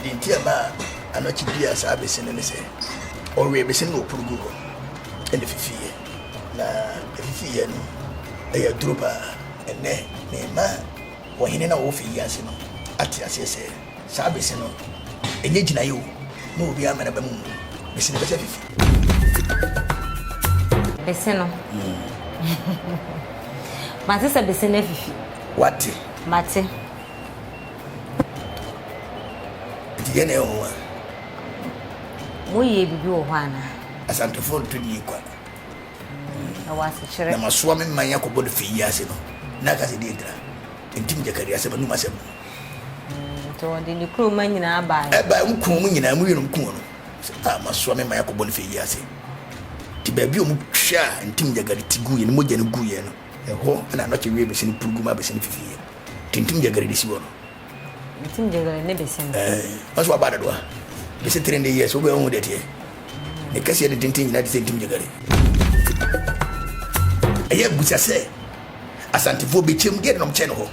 Deɛ nti a ɛmaa anɔkye biaa saa bese no ne sɛ, ɔwee bese no na ɔporo guu hɔ na ɛfifiiɛ. Na ɛfifiiɛ no, ɛyɛ aduro pa ara. Ɛnnɛ, mema ɔhene no a ɔwɔ fie yi ase no ate aseɛ sɛ, saa bese no, ɛnyɛ gyinaeɛ o, na obiara mma n'aba mu mmu. Bese no bɛsa afifi. Bese no. Mate sɛ bese no afifi. Wate? Mate. Nti deɛ na ɛyɛ wɔn a. Moyɛ biribi wɔ hɔ anaa? Asantefoɔ nto die kwa. Mm, ɛwɔ asekyerɛ. Na masoa me mman akɔbɔ no fii ase no, na aka sɛ deɛ ntina. Ntim gyakari asɛm anum asɛm. Mm, nti wɔde ne kuroma nyinaa baeɛ. Ɛbaeɛ wɔn kuu wɔn nyinaa, wɔn yɛnom kuu wɔn. Sɛ a masoa me mman akɔbɔ no fii ase. Nti baabi a wɔn hwɛ a ntim gyakari ti gu yɛn, mogya no gu yɛn no, ɛhɔ na anɔkye wie bɛsi no purugu ma bɛsi no fifi yɛn. Tintim gyegere de si hɔ no. Tintim gyegere ne bese no. Ɛɛ ɔsɛ waba adado a bese tiri ne yɛ so bɛ ohun dɛteɛ ne kɛseɛ ne tenten nyinaa te sɛ ntim gyegere. Ɛyɛ busa sɛ asantefoɔ bɛkyɛm deɛ nom kyɛ no hɔ.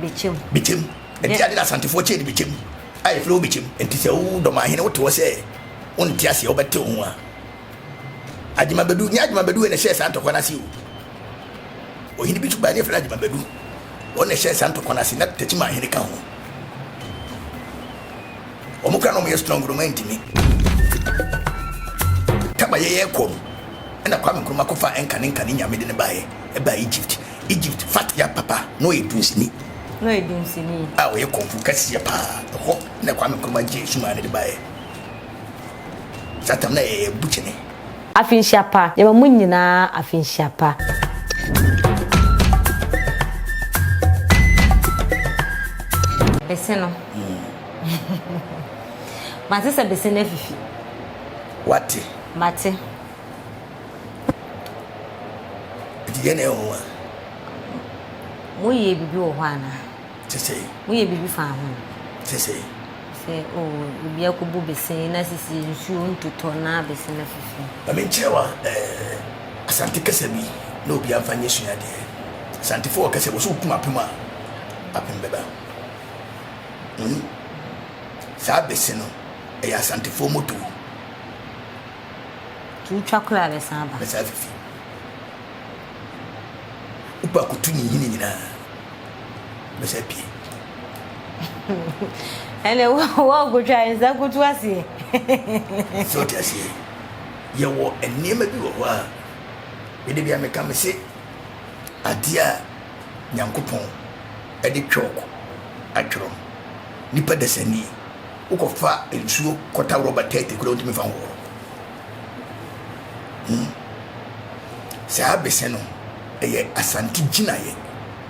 Bɛkyɛm. Bɛkyɛm. Ɛnti ade na asantefoɔ kyɛ ne bɛkyɛm a yɛfrɛ wo bɛkyɛm. Ɛnti sɛ wo dɔmahene wote hɔ sɛ wonte aseɛ wobɛte wo ho a agyemabɛdu nyɛ agyemabɛdu wei na ɛhyɛɛ saa ntɔkwa no ase o. Ohene bi nso bae a ne yɛfrɛ no Agyema Badu. Wɔn na ɛhyɛɛ saa ntɔkwa no ase, na Tekyima ahene ka ho. Wɔn koraa na wɔyɛ strong dodo ma antumi. Taba yɛyɛɛ kɔm na Kwame Nkrumah kɔfaa Enka ne Nka ne Nyame de no baeɛ, ɛbaa Egypt. Egypt, Fat Yap papa na ɔyɛ dunsini. Na ɔyɛ dunsini. A ɔyɛ kɔmfo kɛseɛ paa. Ɛhɔ na Kwame Nkrumah gyee sumaa no de baeɛ. Saa tam na ɛyɛ bu kyene. Afinhyia pa, yɛma mo nyinaa afinhyia pa. Bese no. Mate sɛ bese no afifi. Wate. Mate. Nti deɛ na ɛwɔ hɔ a. Moyɛ bibi wɔ hɔ anaa? Te sɛ. Woyɛ biribi fa ho. Te sɛ. Sɛ oh, obi akɔbu besee na sisi nsuo ntotɔ na bese no afifi. Ma menkyerɛ wa eh, Asante kasa bi na obiara mfa nyɛ suadeɛ. Asantefo wɔ kasa bi, sɛ wokum apem a, apem bɛba. Wohu? Saa bese no, ɛyɛ Asantefo moto. Nti wotwa kora a bɛsan aba. Bɛsan afifi. Wopɛ akoto ne nhini nyinaa. bɛsa pie. ɛnɛ wɔɔkotwa nsa koto aseɛ sɛ ɔte aseɛ yɛwɔ nneɛma bi wɔ hɔ a mede bia meka me se adeɛ a nyankopɔn de twɔk atwerɛ nipa dasani wokɔfa nsuo kɔta rɔba tɛte kora wontumi fa hohoro hmm. saa bese no ɛyɛ asante gyinaeɛ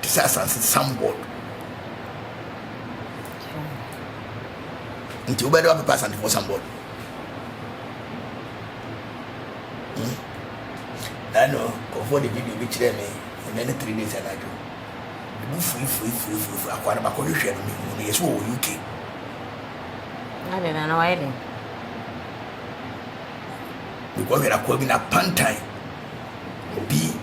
te sɛ asase sambɔd nti wobɛde wabɛpa asantefoɔ sambɔd hmm? ɛno kɔfoɔ de video bi kyerɛ me ɛnɛ ne three days anadwo ɛbu furifurifurifurifuri akoa no bakɔ no hwɛ no mehu no yɛ sɛ wɔwɔ uk mekɔhwɛ no akoa bi na pantan Obi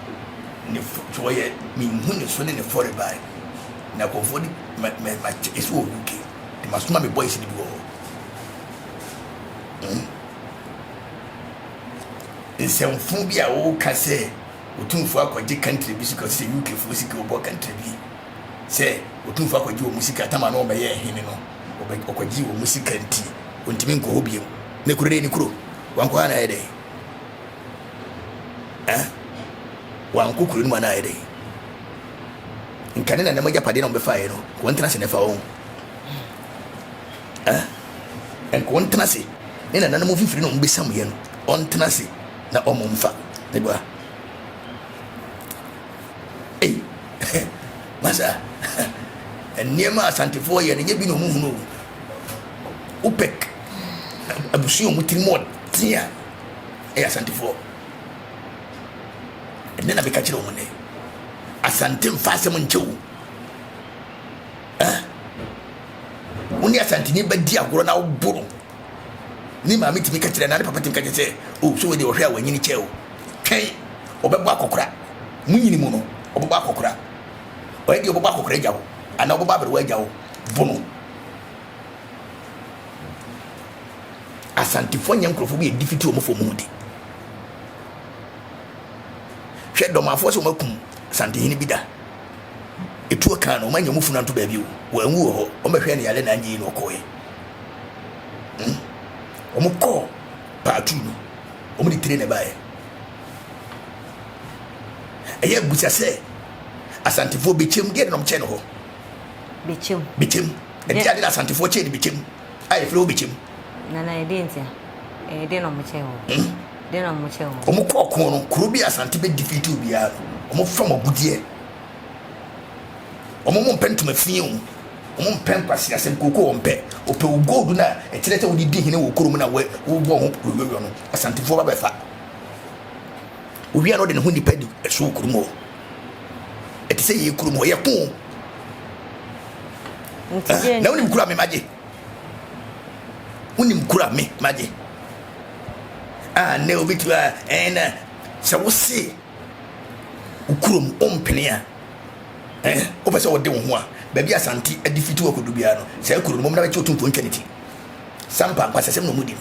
ne fo so ɔyɛ menhu ne so ne ne fo rebae na nkurɔfoɔ de ma ma ma kyɛ ɛsi wɔ UK de ma soma me boys no bi wɔ hɔ mm nsɛmfo bi a wɔka sɛ otumfoɔ akɔgye country bi sika sɛ UK foɔ sika ɔbɔ country bi sɛ otumfoɔ akɔgye wɔn sika tama na ɔbɛyɛ hene no ɔkɔgye wɔn sika nti ɔntumi nkɔ hɔ biom ne kuro dɛ ne kuro wankɔ ha na ɛdɛ ɛ wanko kuro no mu anaayɛ dɛ nka ne nanam agyapadeɛ na wɔbɛfaeɛ no nka wɔntena ase na ɛfa wɔn ɛ nka wɔntena ase ne nanam mfifiri na wɔbɛsamuiɛ no ɔntena ase na ɔmo mfa ne bua ei masa nneɛma asantefoɔ yɛ no nyɛ bi na ɔmo hunu o wopɛk abusua a wɔn tiri mu ɔden a ɛyɛ asantefoɔ ɛnɛ na meka kyerɛ wɔn nɛ asante mfa asɛm nkyɛw eh wo ne asanteni bɛdi agorɔ na woboro ne maame tumi ka kyerɛ na ne papa tumi ka kyerɛ sɛ o oh, so wei deɛ ɔhwɛ a wanyini kyɛ o twɛn ɔbɛbɔ akɔkora mu nyini mu no ɔbɛbɔ akɔkora ɔyɛ deɛ ɔbɛbɔ akɔkora agya wo anaa ɔbɛbɔ aberewa agya wo bono Asantefoɔ nyɛ nkurɔfoɔ bi a ɛdi fiti wɔn fam mu de. Hwɛ dɔmafoɔ sɛ wɔn akum Asantehene bi da. Etuo kan no wɔn anya wɔn funu anto baabi o. Wɔn anwu wɔ hɔ. Wɔn bɛhwɛ ne yare na anyi na ɔkɔɛ. Hmm. Wɔn kɔ paatu no. Wɔn de tire na ɛbaeɛ. Ɛyɛ busa sɛ Asantefoɔ bɛkyɛm deɛ na wɔkyɛ no hɔ. Bɛkyɛm. Bɛkyɛm. Ɛnti ade na Asantefoɔ kyɛɛ no bɛkyɛm a yɛfrɛ hɔ bɛkyɛm. Nana ɛdeɛ nti a? Ɛyɛ deɛ na ɔmo kyɛɛ hɔ? Hmm? Deɛ na ɔmo kyɛɛ hɔ? Ɔmo kɔɔ kɔn no, kuro bi a Asante bɛ defeat obiara no, ɔmo fam agudeɛ. Ɔmo mo mpɛ ntoma fii o, ɔmo mpɛ nkwasi asɛm kooko wɔn pɛ. Ɔpɛ o gold na ɛkyerɛ sɛ wode di hene wɔ kuro mu na wobɔ ho yɔyɔyɔ no, Asantefoɔ ba bɛfa. Owia na ɔde ne ho nipa di so wɔ kurom hɔ. Ɛte sɛ yɛn kurom hɔ, yɛko o. Eh, na wonim kura me magye. Wonim kura me magye. Ah, na obi tu a, ɛn na sɛ wose wo kurom ɔmpene a, eh, wopɛ sɛ wɔde wo ho a, baabi asante adi fiti wɔ kodo biara no, saa kuro no mom na bɛkye otumfoɔ ntwa ne ti. Sampa nkwasasɛm na ɔmudi no.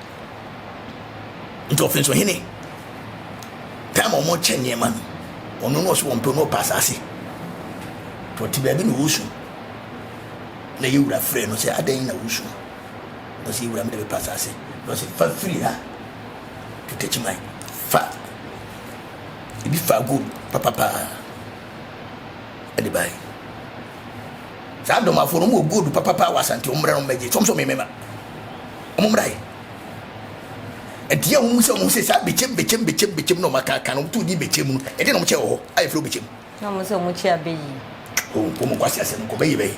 nti ɔfiri so hene time a wɔkyɛ nneɛma no ɔno no ɔso wɔn pɛ no ɔpɛ asase nti ɔte baabi na ɔresu na yɛ wura frɛ no sɛ adɛn na wosu na ɔsɛ yɛwura mede bɛpa asase na ɔsɛ fa firi ha tetakyiman fa ebi fa gold papapaa ɛde bae saa adomafo no mu gold papapaa wɔ asante ɔmmrɛ no mmɛgye sɔm sɛ ɔmemema Ɔmo mmra yi. Ɛdeɛ a ɔmo sɛ ɔmo sɛ saa bekyem bekyem bekyem bekyem na ɔmo aka aka na ɔmo to di bekyem mu no ɛdeɛ na ɔmo kyɛ wɔ hɔ a yɛfrɛ bekyem. Na ɔmo sɛ ɔmo kyɛ abɛyi. O nkɔ ɔmo nkɔ ase asɛm nkɔ bɛyi bɛyi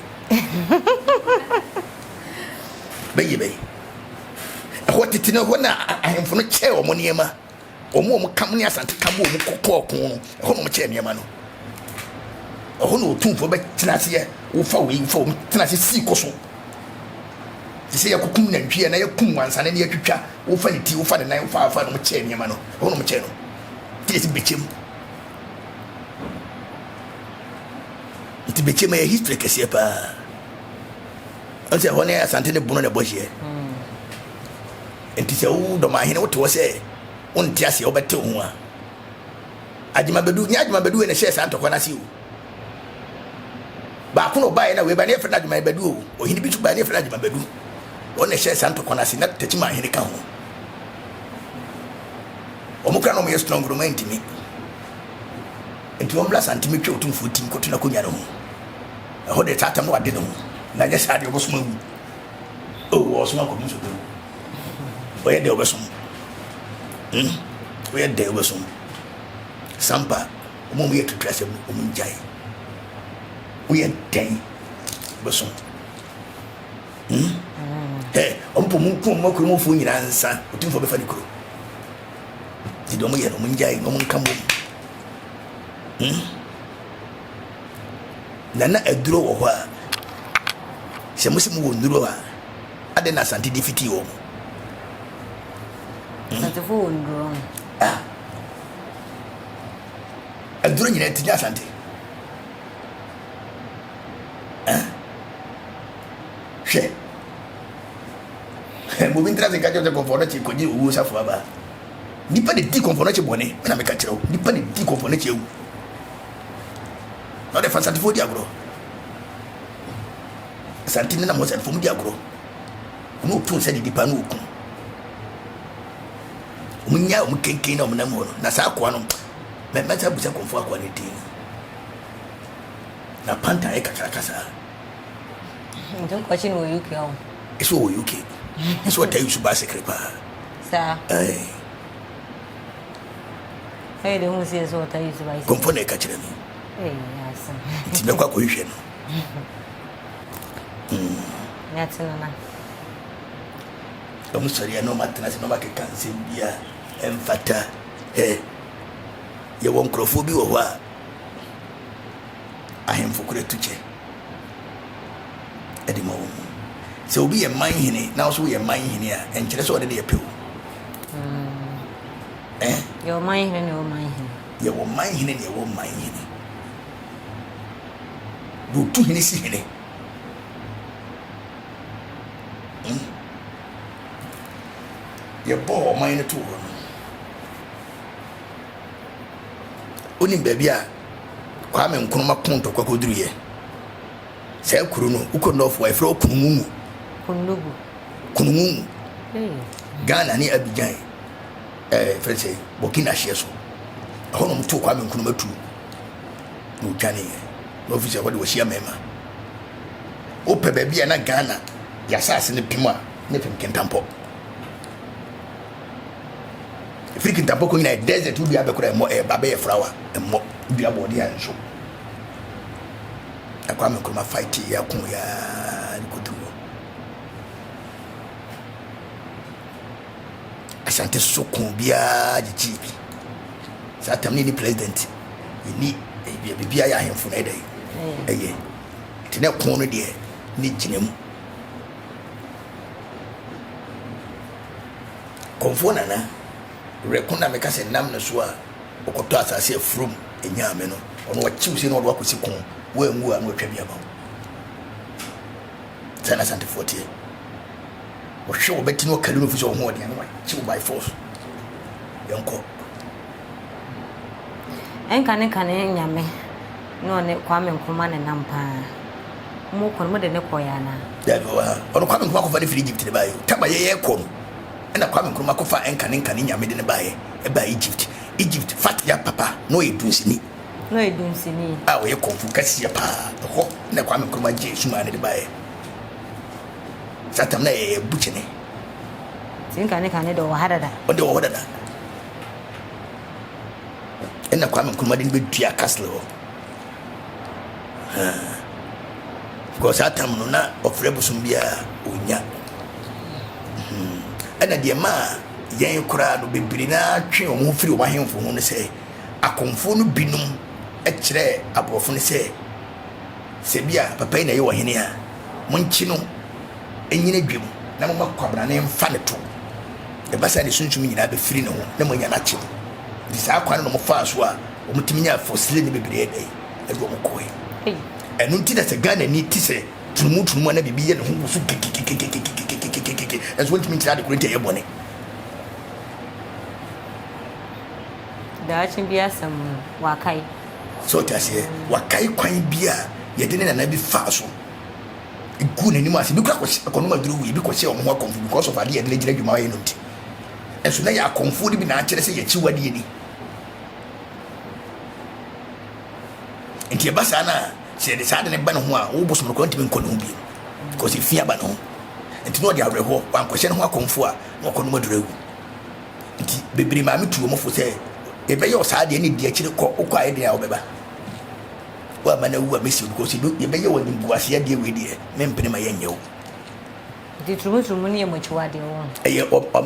bɛyi bɛyi ɛhɔ tete no ɛhɔ na ahemfo no kyɛ ɔmo nneɛma. Wɔn a wɔka mo ne Asante ka bɔɔ mu kɔɔ ɔko no, ɛhɔ na wɔkyɛɛ nneɛma no. Ɛhɔ na otumfoɔ bɛtena ase yɛ wofa wei wofa wɔn tena ase sii kɔ so. Te sɛ yɛkokum nantwie anaa yɛkum wansane na yɛatwitwa wofa ne ti wofa ne nan wofa afa na wɔkyɛɛ nneɛma no, ɛhɔ na wɔkyɛɛ no. Te yɛsi bɛkyɛm. Nti bɛkyɛm yɛ history kɛseɛ paa. Ɔn sɛ ɛhɔ ne Asante ne Bono na ɛbɔ hyeɛ. Enti sɛ wo dɔmahene wote hɔ sɛ wonte aseɛ wobɛte wo ho a, Agyemabadu, nyɛ Agyemabadu wei na ɛhyɛɛ saa ntɔkwa no ase o. Baako na ɔbaeɛ na wei ba ne yɛfrɛ no Agyemabadu o. Ɔhene bi nso baeɛ ne yɛfrɛ no Agyemabadu. Wɔn na ɛhyɛɛ saa ntɔkwa no ase na Takyimanhene ka ho. Wɔn kora na wɔyɛ strong no mantimi. Enti wɔn bla santimi twe otumfoɔ tim kɔto n'akonnwa no ho. Ɛhɔ deɛ saa atam no wade ne ho na nyɛ saa deɛ wɔbɛsom awu. Oh ɔsom akɔdum so dɛw. Ɔyɛ dɛ ɔbɛsom. Hmm. Ɔyɛ dɛ ɔbɛsom. Sampa ɔmo ɔmo yɛ tutu asɛm no ɔmo ngyae. Woyɛ dɛn ɔbɛsom. Hmm. Ɛ ɔmo pɔ ɔmo ku ɔmo akuru ɔmo fo nyinaa nsa otumfo bɛfa ne kuro. Ti dɛ ɔmo yɛ no ɔmo ngyae na ɔmo nka mo. Hmm. na na aduro wɔ hɔ a sɛ mo sɛ mo wɔ nnuro a adɛn na asante de fitii wɔn mu hmm? asantefo wɔ nnuro ah. aduro nyinaa ti nyɛ asante ah. hwɛ bobi ntra sɛ nka kyerɛ sɛ kɔmfɔ no kye kɔgye owuo safo aba nipa de di kɔmfɔ no kye bɔne ɛna meka kyerɛ wo nipa de di kɔmfɔ no kye awu na ɔde fa Asantefoɔ di agorɔ Asante ne nam wɔ Asantefoɔ mu di agorɔ wɔn otu nsa didi paa na oku wɔn nya wɔn kenken na wɔn nam wɔ no na saa akoa no mɛ mɛsa busa kɔnfo akoa ne din na panta yɛ kakraka saa. nti nkɔkye no wɔ uk ɔ ɛsɛ wɔ uk ɛsɛ wɔ ta yusu baa sekere paa saa ɛɛ kɔmfɔ na ɛka kyerɛ me nti mɛkɔ akɔhwehwɛ no ɔmo sɔre a na ɔmo atena ase na ɔmo akeka nsɛm bi a ɛmfata ɛ yɛwɔ nkurɔfoɔ bi wɔ hɔ a ahemfo kora tu kyɛ ɛde ma wɔn sɛ obi yɛ man hene na nso yɛ man hene a ɛnkyerɛ sɛ ɔde ne yɛ pɛw Mm. Yɛ ɔman hene ne ɔman hene. Yɛ ɔman hene ne ɛwɔ ɔman hene. Wotu hene si hene. Hmm? Yɛbɔɔ ɔman no too hɔ no. Wonim baabi a Kwame Nkrumah kɔntɔkwa kɔduruyɛ? Saa kuro no, wokɔ Nɔfo a, yɛfrɛ hɔ Kunumungu. Kunugu. Kunumungu. Hey. Ghana ne Abidjan, ɛɛ eh, fɛn sɛ Burkina hyeɛ so. Ɛhɔ na wɔn to Kwame Nkrumah tu na otwane yɛ. Na ɔfi sɛ ɛhɔ de wɔhyia mmarima. Wopɛ baabi a na Ghana yɛasaase no pem a ne pem kentampɔ. Ɛfiri kentampɔ kɔ nyina yɛ desert wodua bɛkora ɛmmɔ ɛyɛ ba bɛyɛ flower ɛmmɔ wodua bɔɔde a nso. na Kwame Nkrumah fighti yɛ ko yɛ ara de kɔduru hɔ. Asante soso ko biara gyigyii bi. Saa tam ne ni president, yɛni biribiara yɛ ahemfo na ɛdɛ ɛyɛ. Nti ne ko no deɛ ne gyina mu. Kɔmfoɔ nana Werɛ ko na meka sɛ nam ne so a wokɔtɔ asase a afurum nyaa me no, ɔno wakyi wo sei na ɔde wo akɔsi ko, woanwu a na watwa bi ama wo. Saa na Asantefoɔ teɛ. Wɔhwe wo bɛti na wɔkari no fi sɛ ɔho ɔden a na wakyi wo by force. Yɛnkɔ. Ɛnka ne kane nyame na ɔne Kwame Nkrumah ne nam paa. Mo kɔ no mo de ne kɔɛ anaa? Dabi ɔwɔ ha. Ɔno Kwame Nkrumah kɔfa ne firi Egypt ne baayɛ o. Taba yɛ yɛkɔ no. Ɛna Kwame Nkrumah kɔfaa ɛnka ne nka ne nyame de no baeɛ. Ɛbaa Egypt. Egypt fat ya papa na ɔyɛ dunsini. Na ɔyɛ dunsini. A ɔyɛ kung fu kɛseɛ paa. Ɛhɔ na Kwame Nkrumah gyee sumaa no de baeɛ. Saa tam na ɛyɛ bukyene. Sɛ nka ne ka ne de ɔwɔ ha dada. Ɔde ɔwɔ hɔ dada. Ɛna Kwame Nkrumah de no bɛdua castle hɔ. because saa tam no na ɔfrɛ bosom biara ɔnya hmm. ɛna deɛ maa yɛn koraa no bebree no atwe wɔn ho firi wɔn ahemfo ho no sɛ akɔmfoɔ no binom kyerɛɛ aborɔfo no sɛ sɛ bi a papa yi na ɛyɛ ɔhene a monkye no ɛnyina dwam na moma kwabena ne mfa ne to ɛba sɛ ne sunsum nyinaa bɛfiri ne ho na moanya no akye no nti saa kwan no na mofaa so a wɔn tumi nya fosile ne bebree ɛdɛ yi ɛde wɔn kɔɛ ɛno nti na sɛ ghana ni ti sɛ tunumu tunumu ana biribi yɛ ne ho woso kekekekekekekekekekekeke ɛnso wɔntumi nkyerɛ adekoro nti ɛyɛ bɔne daakye bi asɛm no wakae sɛ ɔte aseɛ wakae kwan bi a yɛde ne nana bi faa so ɛgu n'anim ase bi kora kɔnom aduro wei bi kɔhyɛ wɔn ho akɔmfo because of adeɛ yɛde ne gyina adwuma yɛ no nti ɛnso na yɛ akɔmfoɔ no bi na akyerɛ sɛ yɛkyi wadeɛ ni nti ɛba saa no a sɛ yɛde saa de no ba ne ho a wo bosom no kora ntumi nkɔ ne ho bio because ɛfi aba ne ho nti na ɔde awerɛhoɔ wankɔhyɛ ne ho akɔmfo a na ɔkɔ nom aduru awu nti bebree maame tu wɔn fo sɛ yɛbɛyɛ ɔsaa deɛ ne di akyire kɔ wokɔ ayɛ deɛ a wobɛba wo ama no awu a mɛsi because yɛbɛyɛ wɔ nimguaseɛ deɛ wei deɛ mempene ma yɛnyɛ wo nti turumuturumu no yɛ mɔkyiwadeɛ wɔ ɛyɛ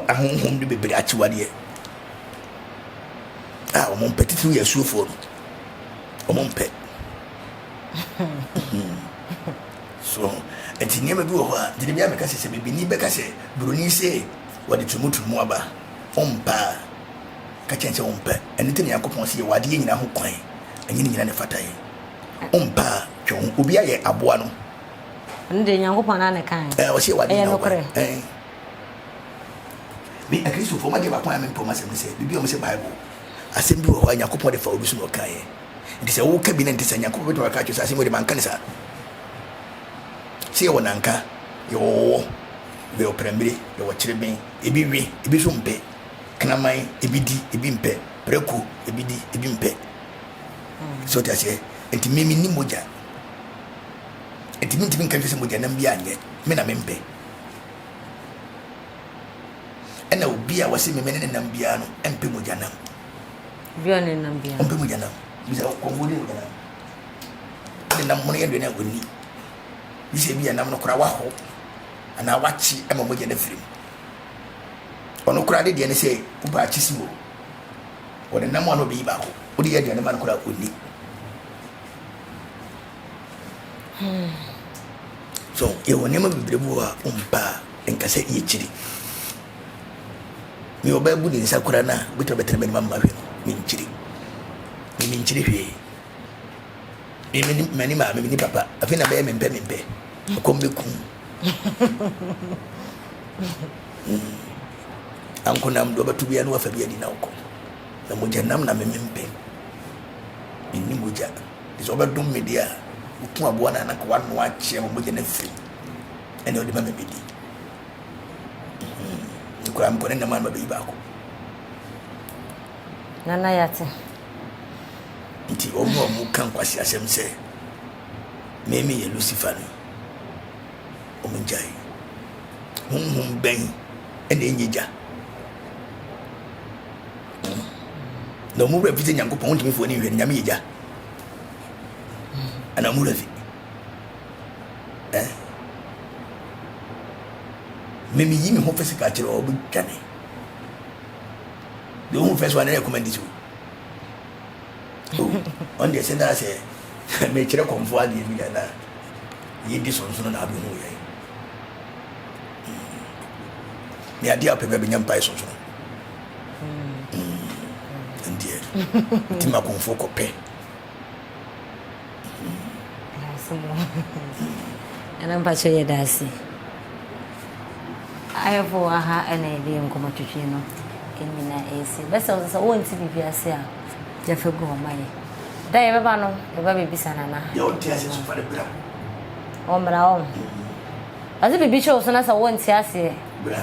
ahonhom no bebree akyiwadeɛ a wɔn mpɛ titiriw yɛ asuofoɔ no wɔn mpɛ so nti nneɛma bi wɔ hɔ a gyina bi a mɛka sɛ sɛ bibini bɛka sɛ buroni sɛ wɔde turumuturumu aba ɔmpa a ka kyɛn sɛ ɔmpɛ ɛno nti ne nyankopɔn sɛ yɛwɔ adeɛ nyina ho kwan ɛnyɛ ne nyina ne fata yɛ ɔmpa a twɛ ho obi ayɛ aboa no ɛno deɛ nyankopɔn na ne kan ɔsɛ yɛwɔ adeɛ nyina ho kwan Me, Akristofo, magye m'akwan a merempa mu asɛm ne sɛ, biribi a wɔse Bible asɛm bi wɔ hɔ a Nyankopɔn de fa obi so na ɔkaeɛ. Enti sɛ woka bi na ɛnte saa, Nyankopɔn bɛtumi aka akyerɛ sɛ, asɛm wei de, manka no saa. Sɛ yɛwɔ nanka, yɛwɔ ɔwɔ, yɛwɔ prɛmbire, yɛwɔ kyereben, ebi we, ebi nso mpɛ. Kraman, ebi di, ebi mpɛ. Prako, ebi di, ebi mpɛ. Sɛ wote aseɛ? Enti me, menni mogya. Enti mentumi nka nkyerɛ sɛ mogya nam bi anyɛ, me na mempɛ. Ɛna obi a wɔsi meme ne ne nam biara no mpɛ mogya nam. Obi a ne nam biara. Ɔmpɛ mogya nam. Bisa kɔnfo ne mogya nam. Ɛna nam hono yɛ aduane a wɔnni. Bisa ebi a nam no koraa waho anaa wakye ma mogya no afiri mu. Ɔno koraa de deɛ ne sɛ wopɛ akye si hɔ. Wɔde nam a na ɔde yi baako. Wode yɛ aduane ma no koraa ɔnni. So yɛwɔ nneɛma bebree bi wɔ a ɔmpɛ a nka sɛ yɛkyiri me ɔbaa bu ne nsa kora no a wobɛtumi bɛtena m'anim ama hwɛ no menkyiri me menkyiri hwee mani maa memene papa afei na bɛyɛ mempɛ mempɛ ɛkɔm bɛkum ankonam deɛ ɔbɛto bia ne wafa bi adi na wokɔ na mogya nam na memempɛ menni mogya Te sɛ ɔbɛdom me deɛ a, ɔku aboa no a, na anka wanoa akyeɛ ma mogya no afiri ɛna ɔde ma me medi. Nti koraa mekɔ ne nam a na mabɛyi baako. Nana Yate. Nti wɔn a wɔka nkwaseasɛm sɛ me meyɛ Lucifer no, wɔn ngyae. Honhom bɛn ɛna ɛnyɛ gya? na ɔmo werɛ fi sɛ nyankopɔn wontumi mfa w'ani nhwɛ no nyame yɛ gya ana ɔmo werɛ fi memeyi me ho physical kyerɛ ɔbɛtwa me deɛ ɔhu fɛ so a na ɛkɔma ndi so ɔn deɛ sɛ naa sɛ mekyerɛ kɔmfoɔ adeɛ bi na na yɛdi sonsono na abɛhu yɛ ne adeɛ a wopɛ bɛ bɛnya mpae sonsono ɛndeɛ nti ma kɔnfoɔ kɔpɛ ɛna mpakyɛ yɛ daase ayɛfo wɔ ha ɛna yɛde yɛ nkɔmɔ twitwi no ɛnyina ɛsi bɛsɛ wo sɛ wɔnti biribi ase a yɛfɛ gu ɔma yɛ da yɛbɛba no yɛba bɛbisa nana ɔmmra ɔm ɔse biribi kyɛw so na sɛ wɔnti aseɛ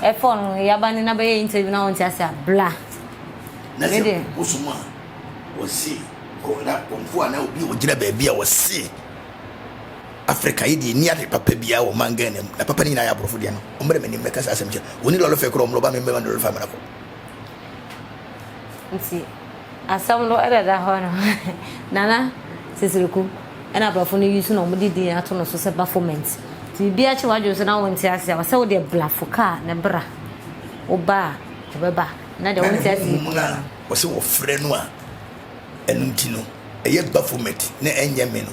ɛfɔ no yaba ne na bɛyɛ interview na ɔnte ase a bla na sɛ wosom a wɔse na kɔmfo a na obi a ɔgyina baabi a wɔse afrika yi deɛ ni ade papa biara wɔ man ghana mu na papa no nyinaa yɛ aborɔfo deɛ no ɔmmrɛ m'anim mɛka saa asɛm kyɛ ɔni lɔlɔfɛ korɔ ɔmlɔba me mmɛma no lɔlɔfɛ amana kɔ nti asɛm no ɛdada hɔ no nana sisireku Ɛna abrɔfo no use na ɔmo de din ato no so sɛ Baphomet nti bibi akye wadwene so na wonte ase a ɔsɛ wo deɛ bla fo kaa ne bra wo ba a ɔbɛba na deɛ wonte ase yi bia no. Ɔsɛ wɔ frɛ no a ɛno nti no ɛyɛ Baphomet na ɛnyɛ me no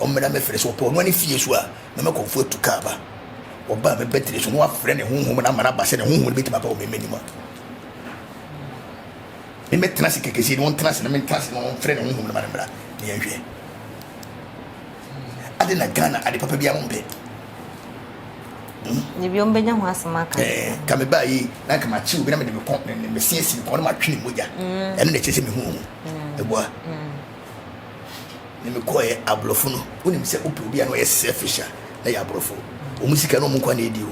ɔmmra mɛ frɛ so ɔpɛ ɔnoa ne fie so a na mɛ kɔnfo atu kaa ba ɔba mɛ bɛtere so na wafrɛ ne honhom no ama no aba sɛ ne honhom no bɛtumi aba wɔ mɛ mɛ nim a. Me mɛtena ase kɛkɛ sei na ɔntena ase na me ntena ase na ɔmfrɛ ne honhom no ma no mmra na yɛnhwɛ. Adɛn na Ghana ade papa biara mompɛ? Hmm? Ebi ɔmo bɛnya ho asɛm aka. Ɛɛ eh, ka me baa yi na nka makye obi na mede me kɔn ne ne mese asi ne kɔn na matwe ne mogya. Hmm. Ɛno na ɛkyerɛ sɛ mehu ɔmo. Hmm. Ɛboa. Ne mekɔɛ aborɔfo no, wonim sɛ wopɛ obi a na ɔyɛ selfish a na yɛ aborɔfo. Ɔmo sika na ɔmo nkwa na ɛdi o.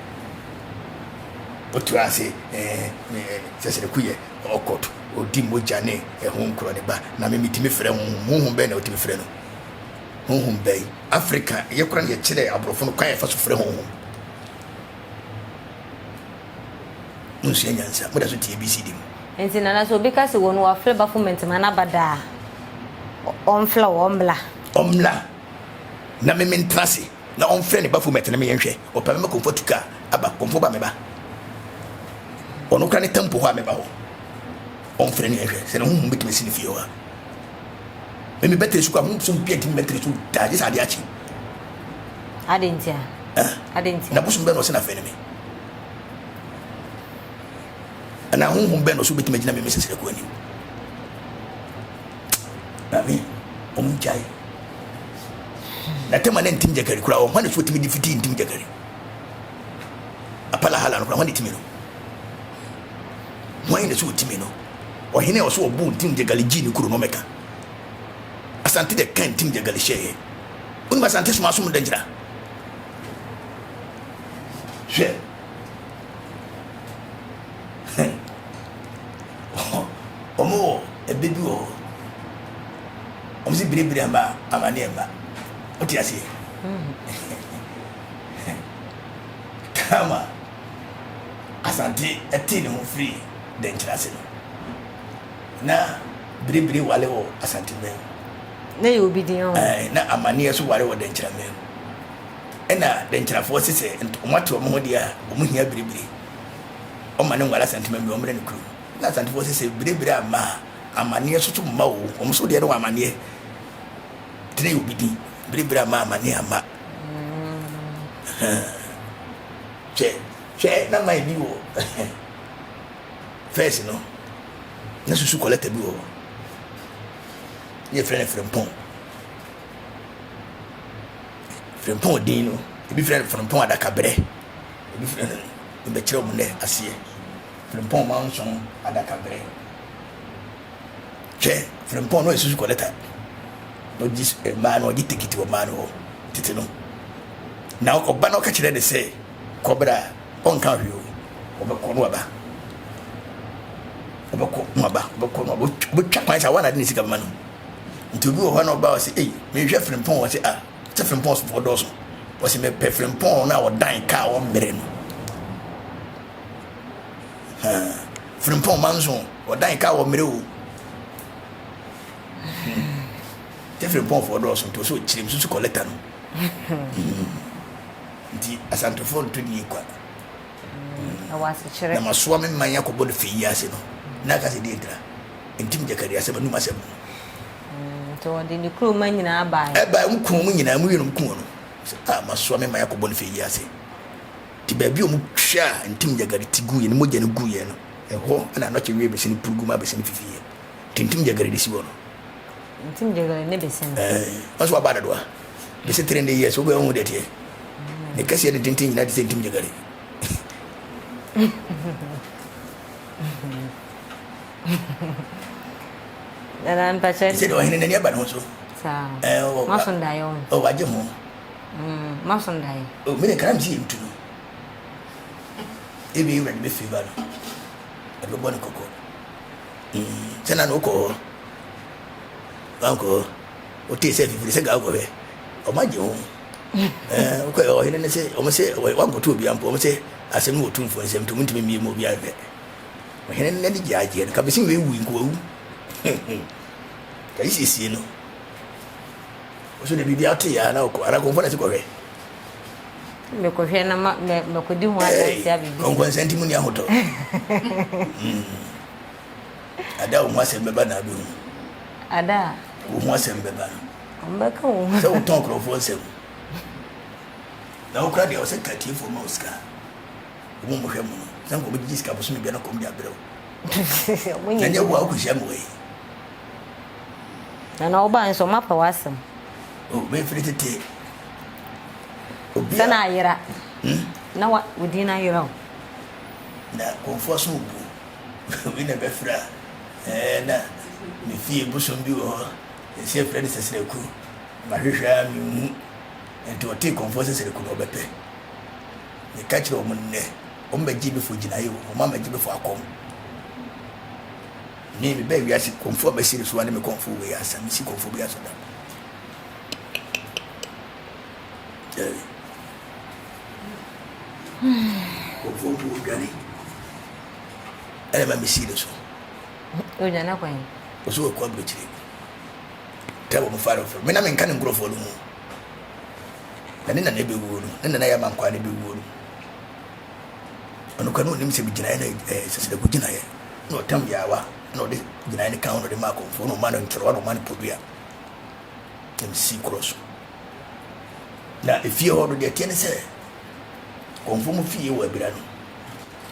wotu ase sɛ sɛ ɛku yɛ ɔkɔt ɔdi mogya ne ɛho nkorɔ ne ba na memetumi frɛ honhom honhom bɛn na wotumi frɛ no honhom bɛn afrika yɛ kora no yɛkyerɛ aborɔfo no kwan yɛfa so frɛ honhom monsua nyansa moda so tie bcd mu nti nana sɛ obi ka sɛ wɔn wafrɛ bafo mantama no aba daa ɔmfla wɔ ɔmmla ɔmmla na mementra se Na ɔmfrɛ ne bafo mmɛtena me yɛn hwɛ, ɔpɛ me ma kɔmfo atu ka aba, kɔmfo ba me ba, ɔno kora ne tɛmpo hɔ a me ba hɔ, ɔmfrɛ ne yɛn hwɛ, sɛ ne honhom bɛtumi asi ne fie hɔ a. Me me bɛtena sukuu a, honhom sɛ obi antumi bɛtena sukuu daa, gye sɛ adeɛ akye. Adɛn nti a? Eh? Adɛn nti a? Na bosom bɛn na ɔsɛ na afei ne me? Anaa honhom bɛn na ɔsɛ obɛtumi agyina me me sɛsrɛ kɔ anim? Maame, wɔn gyae. Na tɛma na ntim gyakari koraa wɔn hɔ na so tumi de fiti ntim gyakari. Apala hala no koraa wɔn de tumi no. Wɔn na so tumi no. Ɔhene a ɔso ɔbu ntim gyakari gyi ne kuro no mɛka. Asante de ka ntim gyakari hyɛ yɛ. Wɔn asante soma asom da gyina. Hwɛ. Ɔmo wɔ ɛbɛ bi wɔ hɔ ɔmo se biribiri ama amaneɛ mma wote aseɛ tama asante ɛte ne ho firi dɛnkyerɛ ase no na biribiri wale wɔ asante mɛn na yɛ obi din ɔmo eh, na amaneɛ so wale wɔ dɛnkyerɛ mɛn ɛna dɛnkyerɛfoɔ se sɛ ɔmo ate ɔmo ho deɛ a ɔmo hia biribiri Ɔma ne nguan asanteman bi ɔmmrɛ ne kurom. Na asantefoɔ se sɛ bire bire amma a, amanneɛ so so mma oo, wɔn so deɛ no wɔ amanneɛ tene yɛ obi din, bire bire amma a amanneɛ amma. Hwɛ, hwɛ na man bi wɔ fɛs no, na susu kɔlɛta bi wɔ hɔ, ne yɛfrɛ no frempɔn. Frempɔn din no, ebi frɛ no frempɔn adakaberɛ. Ebi firi ha yi, yɛbɛkyerɛ wɔn nnɛ aseɛ. Frimpong Manson adakaberɛ. Hwɛ, Frimpong na ɔyɛ susu kɔlɛta. Na ɔgye eh, mmaa no, ɔgye tikiti wɔ mmaa no hɔ tete no. Na ɔba na ɔka kyerɛ ne sɛ, kɔbra, ɔnka hwee o, ɔbɛkɔ no aba. Ɔbɛkɔ no aba, ɔbɛkɔ no aba, ɔbɛtwa kwan sɛ awa na ade ne sika ma no. Nti obi wɔ hɔ na ɔba ɔsɛ, ei, mehwɛ Frimpong ɔsɛ, ah, Sɛ Frimpong sofo dɔɔso. Wɔsi mepɛ Frimpong no a ɔdan kaa wɔ mmerɛ no. Frimpong manso ɔdan kaa wɔ mmerɛ o. Sɛ Frimpong foɔ dɔɔso nti ɔsɛ ɔkyerɛ mu susu kɔlɛta no. Nti asantofoɔ nto nie kwa. Na masoa me man akɔbɔ no fɛ yi ase no. Na aka sɛ deɛ ntira. Ntim gyakari asɛm anum asɛm. Nti ɔde ne kurom mma nyinaa baeɛ. Ɛbaeɛ a, wɔkum wɔn nyinaa, wɔyere no, wɔkum wɔn. Sɛ, ah, moasoa me ma yɛakɔ bɔne fie yi ase. Nti baabi a wɔtwaa Ntim Yagariti guiɛ, ne mogya no guiɛ no, ɛhɔ na anɔkye wee bese no purugu maa bese no fifiiɛ. Nti Ntim Jagari de si hɔ no. Ntim Jagari ne bese no. Ɛɛ, wɔn nso wɔaba dodoɔ a, bese three hundred years, wobɛhu ho deɛ ɛteɛ. Ne kɛseɛ ne tenten nyinaa te sɛ Ntim Jagari. Dada mpakyɛ. Ɛsɛ de ɔhene n'ani aba ne ho so. Saa. Ɛɛ o. Maso ndaeɛ o. O wagye ho. Mm maso ndaeɛ. O mene kana msi yɛ ntu no. Ebi ewura de bɛ fi ba no. Ɛde bɛbɔ ne kɔkɔ. Mm sɛ na na okɔ hɔ. Wankɔ hɔ. Ote sɛ fifiri sɛ ga okɔhwɛ. Ɔmo agye ho. Ɛɛ okɔ ɔhene ne sɛ ɔmo sɛ wankɔto obi ampo ɔmo sɛ asɛm no wɔ tumfoɔ nsɛm nti ɔmo ntumi mmie mu obi anhwɛ. Ɔhene no n'ani gyeagyeɛ no, ka bɛsi wei wui nka wawu. Kayi siesie no. Ɔso de biribi ato yɛ a na ɔkɔ, anaa kɔmfɔ na ɛsi kɔhwɛ. Mekɔhwɛ na ma mɛkɔdi ho adanse abɛbi. Nkɔnkɔnsa nti mu ni ahotɔ. Ada wo ho asɛm bɛba na abɛhu. Ada. Wo ho asɛm bɛba. Ɔmbɛka wo ho. Sɛ wotɔn nkurɔfoɔ nsɛm. Na wokora deɛ ɔsɛ ka tiefoɔ ma wo sika. Wɔn a wɔhwɛ mu no, sɛ anka wɔbɛgyegye sika bosome biara na kɔm de abrɛ wo. Na ɛnyɛ wo a wokɔhyia mmoa yi. Na na wobae nso, wɔapɛ w'asɛm. O, oh, mefiri tete. Obi a. Sɛ na ayera. Hmm? Na wa, wo din na ayera o. Na kɔmfoɔ so obu. Wei na ɛbɛfiri a, ɛɛ na me fie bosom bi wɔ hɔ. Ɛsi ɛfrɛ no sɛsrɛku. Mahwehwɛ a menhu. Nti ɔtee kɔmfoɔ sɛsrɛku na ɔbɛpɛ. Meka kyerɛ wɔn nnɛ, wɔbɛgye me fo gyinae o, wɔn a magye me fo akɔm. Me, mebɛɛ wiase kɔmfoɔ bɛsi ne so ane me kɔmfoɔ wei ansa, mesi kɔmfoɔ bi aso da. Jerry. Kɔmfoɔ mpo odwane. Ɛna ma mesi ne so. Odwane kwan. Ɔsɛ wɔkɔ aburokyire. Tɛ wɔn fa no foro. Me na menka ne nkurɔfoɔ no ho. na ne nana bɛwuo no, ne nana yɛ ama nkwaa no bɛwuo no, ɔno kora na ɔnim sɛ megyinaeɛ no ɛɛ sɛ sɛ dɛko gyinaeɛ na ɔtam yaawa na ɔde gyinaeɛ no ka ho na ɔde ma akɔmfoɔ na ɔma no ntorowa na ɔma no podua na mesii korɔ so na efie hɔ no deɛ teɛ ne sɛ kɔmfoɔ mu fie wɔ abira no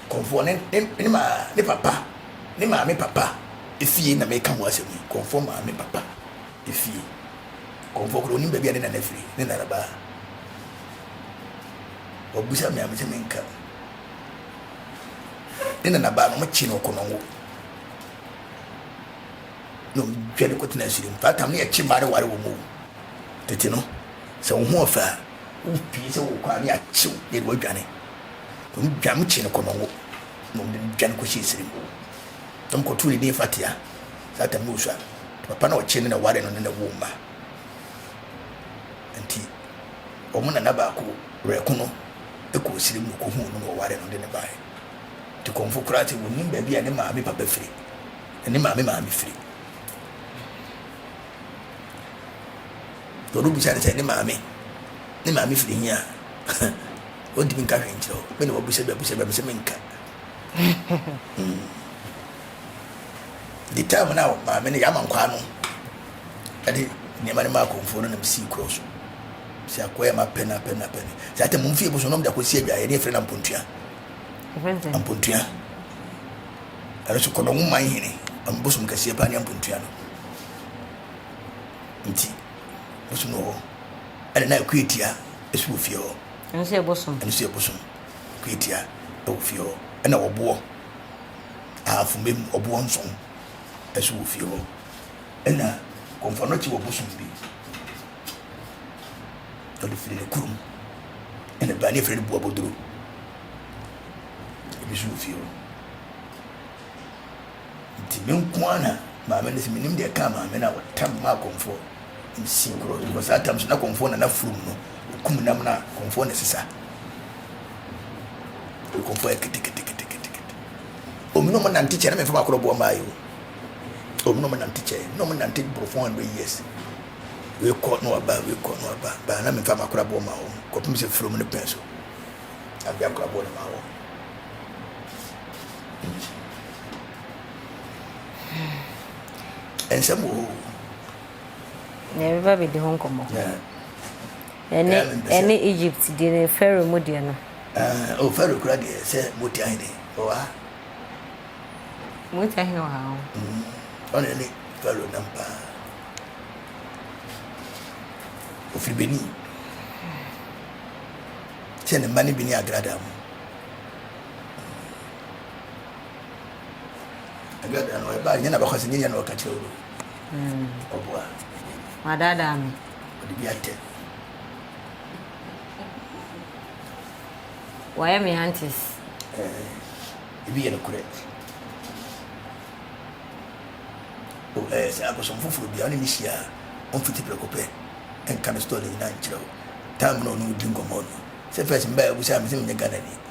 kɔmfoɔ ne ne ne ma ne papa ne maame papa efie na meka ho asɛm yi kɔmfoɔ maame papa Efie. Kɔmfoɔ koraa onim baabi a ne nana firi, ne nana baa. Wabisa me a mese menka. Ne nana baa no, wɔkyee no ɔkɔnɔngo. Na wɔdwa no kɔtena asiri mu. That time ne yɛkye mmaa no ware wɔn o. Tete no, sɛ wo ho ɔfɛ a, wopie sɛ wokɔ a ne yɛakyew na yɛde wadwane. Wɔdwa no, wɔkyee no kɔnɔngo na wɔde no dwa no kɔhyɛ asiri mu. na wɔkɔtoo ne din Fatia Sata Musa. Ne papa na ɔkyee no na ɔwaree no ne no woo mma. Nti wɔn nana baako werɛko no kɔɔ sire mu na ɔkɔhuu no na ɔwaree no de no baeɛ. Nti kɔmfo koraa sɛ wɔnim baabi a ne maame papa firi na ne maame maame firi. Wɔde bisa no sɛ ne maame ne maame firi he a, ɔntumi nka hwee nkyerɛ wo. Me na wabisa bi abisa bi a, me sɛ menka. The time na maame no yɛama nkwaa no ɛde nneɛma no ma akɔmfoɔ no nam sii korɔ so sɛ akɔyɛ ma pɛ na pɛ na pɛ sɛ atɛ mo mfie bo so nom de akɔsi adwa yɛde afiri na mpontua mpontua ɛno so kɔnɔ wo man hene ɔmo bosom kɛseɛ paa ne mpontua no nti bosom no wɔ hɔ ɛna na akua tia ɛso wɔ fie hɔ ɛno so yɛ bosom ɛno so yɛ bosom Twetia wɔ fie hɔ, ɛna ɔboɔ, ahafomma mu ɔboɔ nson nso wɔ fie hɔ, ɛna kɔmfɔnɔkye wɔ bosom bi. Ɔde firi ne kurom, ɛna baa ne firi no buaboduro, ebi nso wɔ fie hɔ. Nti me nko ara na maame no se menim deɛ ɛkaa maame no a ɔtam maa kɔmfoɔ nsi korɔ no because saa tam so na kɔmfoɔ na n'afurum no ɔkum nam no a kɔmfoɔ na ɛsesa kɔmfoɔ yɛ keteketeketekete ɔmu na ɔmo nante kyɛ na mefa bakorɔ boɔ maa yi o ɔmu na ɔmo nante kyɛ na ɔmo nante boro 400 years wekɔ na waba wekɔ na waba baa na mefa bakorɔ boɔ maa wɔn kɔpem sɛ furum no pɛn so na mede akorɔ boɔ no maa wɔn Nsɛm wɔ hɔ o. Na yɛbɛba abɛdi ho nkɔmmɔ. Ɛne ɛne Egypt deɛ ne Pharaoh mu deɛ no. Uh, oh, Pharaoh kura deɛ sɛ moti ahene wɔ ha. Moti ahene wɔ ha o. Mm, ɔne ne Pharaoh nam paa. Ofiri Benin. Sɛ ne mma ne bi ne agrada mu. ɛbɛ da no ɛba nyɛ na bɛkɔ sɛ nyɛ nyɛ na ɔka kyerɛ wo hmm. ɔboa wadaadaa me ɔde bi atɛ wɔyɛ me antes ebi yɛ nokorɛ sɛ abosom foforɔ bia wone ne hyia a ɔmfiti prɛko pɛ ɛnka no store no nyina nkyerɛ wo tam na ɔno wodi nkɔmmɔ no sɛ fɛs mbaa abu sɛ me sɛ menyɛ ghana ni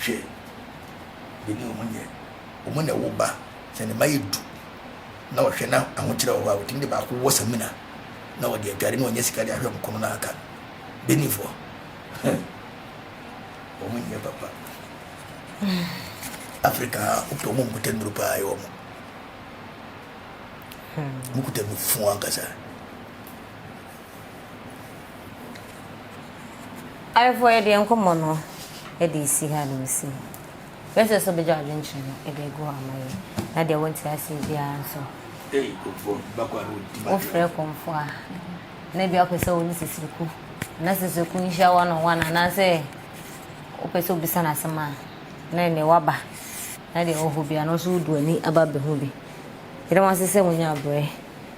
Hwɛ, me ne wɔn nyɛ. Wɔn na ɛwo ba sɛ ne mma yɛ du, na wɔhwɛ na ahokyerɛ wɔ hɔ a, wɔtumi de baako wɔ samina, na wɔde adware na wɔnya sika de ahwɛ wɔn kɔn no aka no. Beninfoɔ, wɔn nyɛ papa. Afrika a, wopɛ wɔn nkuta nnuro paa yɛ wɔn. Wɔkuta nufu ankasa. Ayefoɔ yɛdeɛ nkɔmɔ no ɛde esi ha na ɔsi ha. Yɛsɛ sɛ ɔbɛgya adwenkyerɛ no ɛde egu hɔ ama yɛn na deɛ wɔnte aseɛ biara nso wofrɛ kɔmfoɔ a na ebi apɛ sɛ wɔne sisiriku na sisiriku nhyia one on one anaasɛ wopɛ sɛ obisa no asɛm a na ɛnɛ waba na deɛ ɔwɔ hɔ biara no nso wodu ani aba abɛhu bi. Yɛde wɔn ase sɛ wɔnya abrɛ